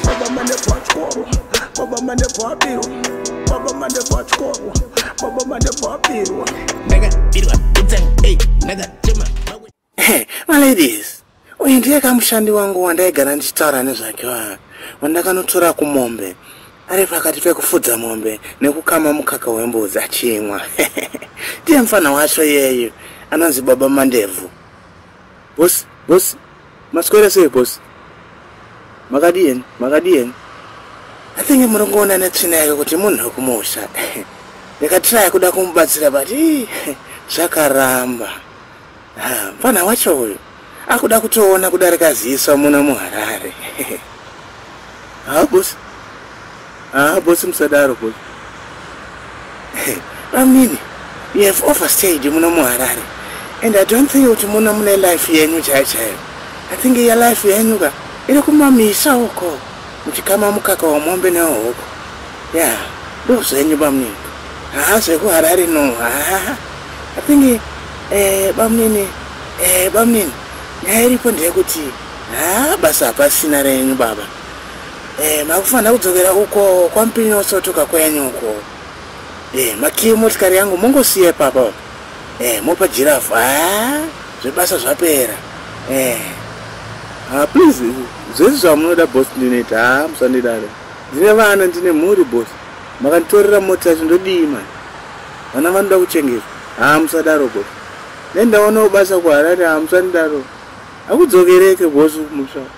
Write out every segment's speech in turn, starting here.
Baba mane pachikoro, baba mane pabirwa, baba mane pachikoro, baba mane pabirwa. Ndakabirwa pizza, hey, ndakachema. Hey, my ladies, uyu ndiye kamushandi wangu wandaigara ndichitaura nezvake wa wandakanotora kumombe ari pakati pekufudza mombe nekukama mukaka wembudzi achimwa ndiye mfana wacho iyeyu anonzi baba mandebvu Boss, boss, maswera sei boss? Makadien, makadien. I think murongoona netsvina yake kuti munhu wekumusha. Ndikatiraya kuda kumubatsira but zvakaramba. Ah, mfana wacho uyu akuda kutoona kudarika ziso muno muHarare. Ah, boss. Ah, boss musadaro boss. Amini, you have overstayed muno muHarare. And I don't think kuti muno mune life yenyu chaiyo chaiyo. I think your life yenyu ka iri kumamisa uko muchikama mukaka wamombe newehoko. Yeah, ndozvenyu bamnini. Haa zvekuHarare no. Haa. I think eh bamnini eh bamnini nyaya iripo ndeyekuti haa basa hapasina renyu baba. Eh, makufanira kudzokera uko kwamupinyi osotoka kwenyu uko eh, makiyi motikari yangu mongosiya ipapa eh, mopa jirafu ah, zvebasa zvapera eh. ah, please zvese zvamunoda bos ndinoita ha ah, musandidare ndine vana ndine mhuri bos makanditorera mota yacho ndodii mani vana vanoda kuchengeta ha ah, musadaro bos nendaonawo basa kuharare ha ah, musandidaro akudzokereke bos musva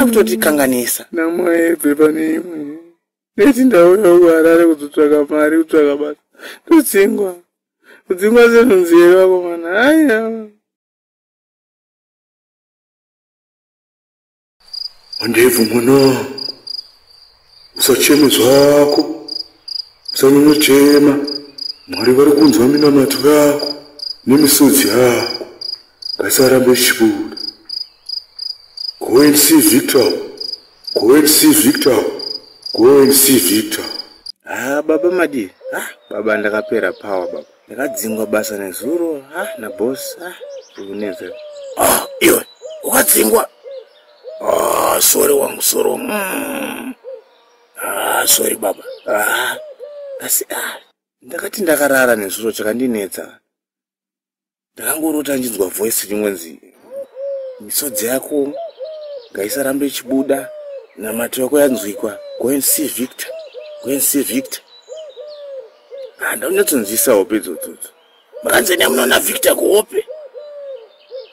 akutotikanganisa namaebve pane imwe neti ndauya kuharare kuzotsvaka mari kutsvaka basa ndodzingwa kudzingwa zenhunzi here vakomana aiya handebvu mwana usacheme zvako usanyonyochema mwari vari kunzwa minamato yako nemisodzi yako ngaisarambe ichibuda go and see victor go and see victor go and see victor ha ah, baba madii ha ah, baba ndakapera power baba ndakadzingwa basa nezuro ha ah, nabos ha zvikunetsa ah iwe ukadzingwa Ah, sorry wangu sorry wangu mm. ah, sorry baba ah, asi ah, ndakati ndakarara nezuro chakandinetsa ndakangorota ndinzwa voice ringonzi misodzi yako ngaisarambe ichibuda namato yako yanzwikwa go and see victor go and see victor ah, ndaunyatsonzwisa hope idzodzodzi muranzeni amunoona victor kuhope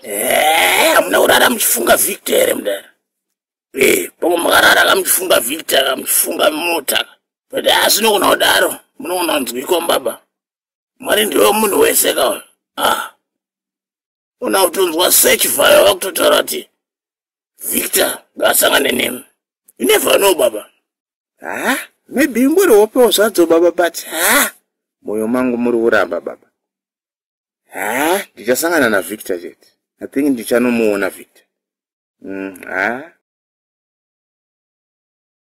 eh, hamuna kurara muchifunga victor here mudara eh, pamwe makarara ka muchifunga victor ka muchifunga mota but asinokona ah, kudaro munokona kunzwikwa mbaba mwari ndiwe munhu wese kawa ah. una kutonzwa search vaya vakutotaura kuti victor ngaasangane nem you never know baba ha maybe ingori hopewo zvadzo baba but ha mwoyo mangu muri kuramba baba ha ndichasangana navictor chete i think ndichanomuona victor mm, ha mm,